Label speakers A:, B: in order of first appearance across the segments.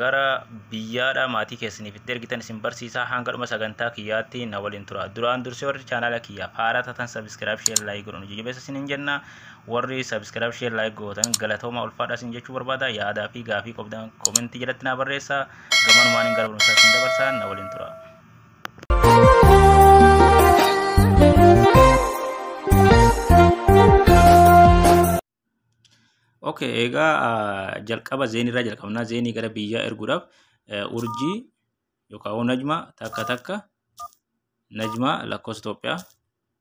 A: gara biyyaadhaa maatii keessaniif itti ergitan isin barsiisaa hanga dhuma sagantaa kiyyaatti na waliin tura duraan dursee warri chaanaala kiyyaaf haaraa taatan sabiskiraayib sheer laayik godhan hojii jabeessa isin hin jenna warri sabiskiraayib sheer laayik gootan galatooma ulfaadhaa isin jechuu barbaada yaadaa fi gaafii qobdan komentii jalatti naa barreessa gamanumaan hin gara barumsaa isin dabarsaa na waliin tura. Okay, egaa ah, jalqaba zeenii irraa jalqabnaa zeenii gara biyyaa erguudhaaf eh, urjii yookaan hoo najma takka takka najma lakkoofsa Itoophiyaa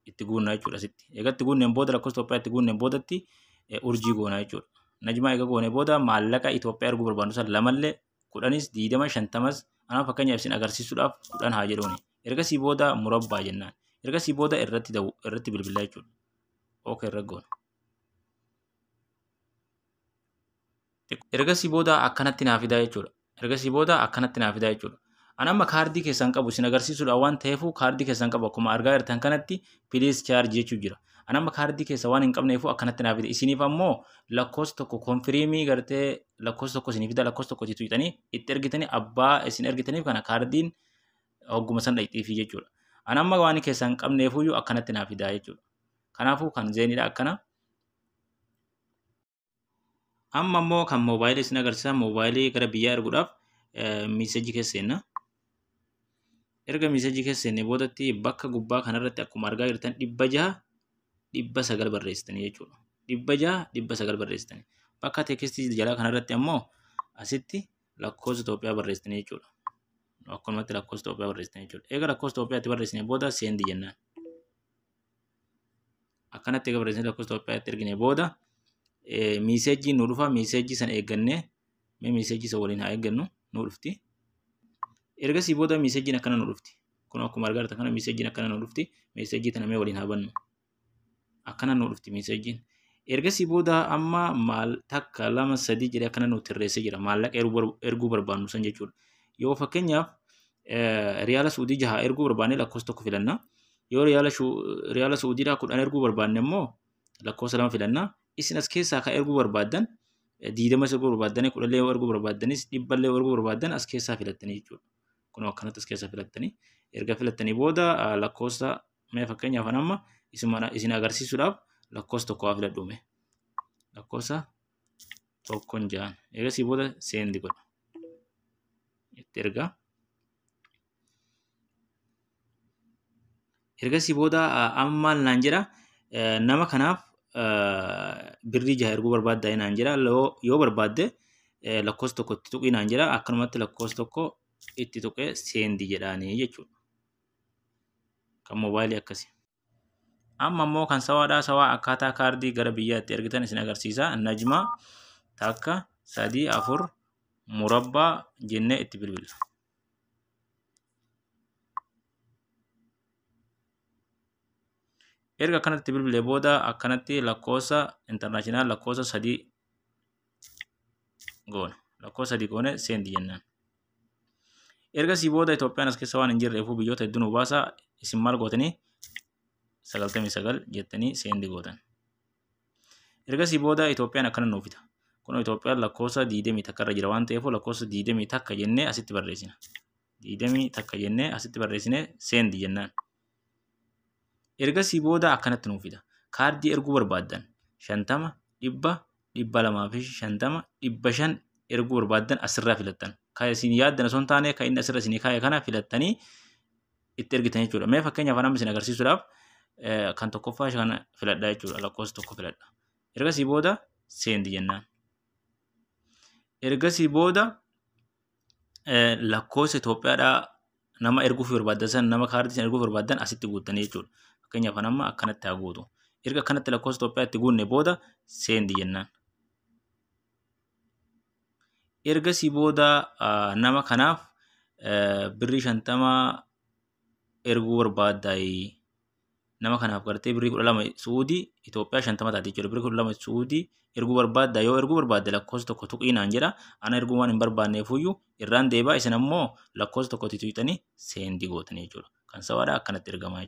A: itti guunnaa jechuudha sitti. Egaa itti guunneen booda lakkoofsa Itoophiyaa itti guunneen boodatti eh, urjii goonaa jechuudha. Najma egaa goonee booda maallaqa Itoophiyaa erguu barbaannu san lamallee kudhanis diidama shantamas anaa fakkeenyaaf isin agarsiisuudhaaf kudhan haa jedhuuni. Ergasii booda murabbaa jennaan. Ergasii booda irratti daww- irratti bilbilaa jechuudha. Okay, irra goona. ergasii booda akkanatti naa fidaa jechuudha. Ergasii booda akkanatti naa fidaa jechuudha. An amma kaardii keessan qabu isin agarsiisuudha waan ta'eefuu kaardii keessan qabu akkuma argaa jirtan kanatti piliis chaarji jechuu jira. An amma kaardii keessa waan hin qabneefuu akkanatti naa fida. Isiniif ammoo lakkoofsa tokko konfiriimii gartee lakkoofsa tokko isinii fida lakkoofsa tokko jitu jedhanii itti ergitanii abbaa isin ergitaniif kana kaardiin hogguma san dhaqxiifii jechuudha. An amma waan keessan qabneefuyyuu akkanatti naa fidaa jechuudha. Kanaafuu kan zeeniidha akkana. Amma immoo kan moobaayilii isin agarsiisa. Moobaayilii gara biyyaa erguudhaaf miisejii keessa seenna. Erga miisejii keessa seenne boodatti bakka gubbaa kanarratti akkuma argaa jirtan dhibba jaha dhibba sagal barreessitanii jechuudha. Dhibba jaha dhibba sagal barreessitanii. Bakka teekistii jalaa kanarratti ammoo asitti lakkoofsa Itoophiyaa barreessitanii jechuudha. Akkanumatti lakkoofsa Itoophiyaa barreessitanii jechuudha. Eega lakkoofsa Itoophiyaatti barreessine booda seendi jennaan. akkanatti egaa barreessanii lakkoofsa Itoophiyaatti ergine booda miiseejjiin nu dhufa miiseejjii sana eeggannee mee miiseejjii sana waliin haa eeggannu nu dhufti. Ergasii booda miiseejjiin akkana nu dhufti. Kun akkuma argaa jirtan kana miiseejjiin akkana nu dhufti. Miiseejjii tana mee waliin haa bannu. Akkana nu dhufti miiseejjiin. Ergasii booda amma maal takka lama sadii jedhee akkana nu tarreessee jira. Maallaqa erguu barbaannu san jechuudha. Yoo fakkeenyaaf riyaala suudii jaha erguu barbaanne lakkoofsa tokko filanna. Yoo riyaala shu- riyaala Su'uudiidhaa kudhan erguu barbaanne immoo lakkoofsa lama filanna. Isin as keessaa kan erguu barbaaddan eh, diidama isa erguu barbaaddan kudhan illee yoo erguu barbaaddanis dhibba illee yoo erguu barbaaddan as keessaa filattanii jechuudha. Kun akkanatti as keessaa filattanii erga filattanii booda ah, lakkoofsa mee fakkeenyaaf an amma isin mana- isin agarsiisuudhaaf lakkoofsa tokko haa filadhu mee. Lakkoofsa tokkon ja'an. Eegasii booda seendi godha. Itti ergaa. ergasii booda amma maal naan jedha nama kanaaf birrii jaha erguu barbaaddaa naan jedha yoo barbaadde lakkoofsa tokko itti tuqii naan jedha akkanumatti lakkoofsa tokko itti tuqee seendi jedhaanii jechuudha. Kan moobaayilii akkasi. Amma immoo kan sawaadhaa sawaa akkaataa kaardii gara biyyaatti ergitan isin agarsiisa. Najma takka sadii afur murabbaa jennee itti bilbila. erga akkanatti bilbilee booda akkanatti lakkoofsa intarnaashinaal lakkoofsa sadii goona lakkoofsa sadii goone seendi jennaan. Ergasii booda Itoophiyaan as keessa waan hin jirreefuu biyyoota hedduu nu baasa isin maal gootanii sagaltamii sagal jettanii seendi gootan. Ergasii booda Itoophiyaan akkana nuuf fita. Kun Itoophiyaan lakkoofsa 20 takka irra jira waan ta'eef lakkoofsa 20 takka jennee asitti barreessina. 20 takka jennee asitti barreessine seendi jennaan. Ergasii booda akkanatti nuuf fida. Kaardii erguu barbaaddan 50, 100, 250, 500 erguu barbaaddan asirraa filattan. Kan isin yaaddan osoo hin taane kan inni asirra isin kaa'e kana filattanii itti ergitan jechuudha. Mee fakkeenya afaan amma isin agarsiisuudhaaf kan tokkoffaa kana filadhaa jechuudha. Lakkoofsa tokko filadha. Ergasii booda seendi jennaan. Ergasii booda lakkoofsa Itoophiyaadhaa nama erguuf barbaaddan san nama kaardii san erguuf barbaaddan asitti guuttanii jechuudha. Fakkeenya afaan amma akkanatti haa guutu. Erga akkanatti lakkoofsa Itoophiyaa itti guunne booda seendi jennaan. Ergasii booda nama kanaaf birrii shantama erguu barbaadda nama kanaaf gartee birrii kudha lama su'uudii Itoophiyaa shantama taate jechuudha birrii kudha lama su'uudii erguu barbaadda yoo erguu barbaadde lakkoofsa tokko tuqii naan jedha ana erguu waan hin barbaanneefuyyuu irraan deebaa isin ammoo lakkoofsa tokkotti tuqxanii seendi gootanii jechuudha kan sawaadhaa akkanatti ergamaa jechuudha.